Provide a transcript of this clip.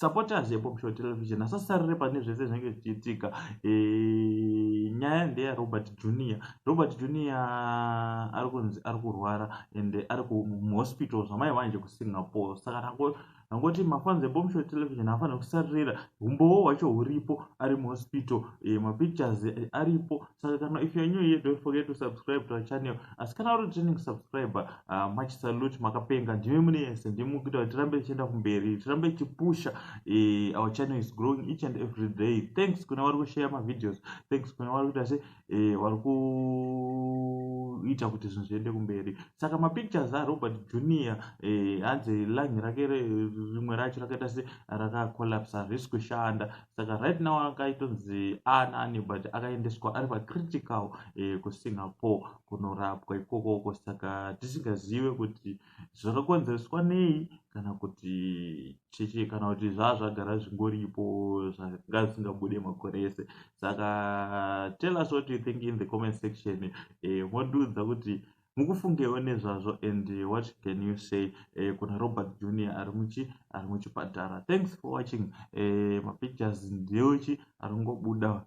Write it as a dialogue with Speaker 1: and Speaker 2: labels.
Speaker 1: supporters yepop show television asasarire pane zvese zvinenge zvichiitika e, nyaya ndeya robert junior robert junior ari kunzi ari kurwara and ari kuhospital zvamai vanje kusingapore saka nango angoti mafanzi epop show television afanira kusarira umbowo hwacho huripo ari muhospital e, mapictures aripo saka kana if you're new here don't forget to subscribe to our channel asi kana uri training subscriber uh, ah, much salute makapenga ndimi mune yese ndimi mukuita kuti tirambe tichienda kumberi tirambe tichipusha eh, our channel is growing each and every day thanks kuna vari kushare mavideos thanks kuna vari kuita se eh, vari kuita kuti zvinhu zviende kumberi saka mapictures arobert junior eh, hanzi eh, langi rake rimwe racho rakaita se rakacollapse harisi kushanda saka right now akaitonzi aana ani but akaendeswa ari pacritical eh, kusingapore kunorapwa ikoko uko saka tisingazive kuti zvakakonzereswa nei kana kuti cheche kana kuti zvaa zvagara zvingoripo zvanga zvisingabude makore ese saka tell us what you think in the comment section eh, modudza kuti Mukufungewo nezvazvo and what can you say eh, kuna Robert Junior ari muchi ari muchipatara. Thanks for watching eh, mapictures ndeuchi aringobuda.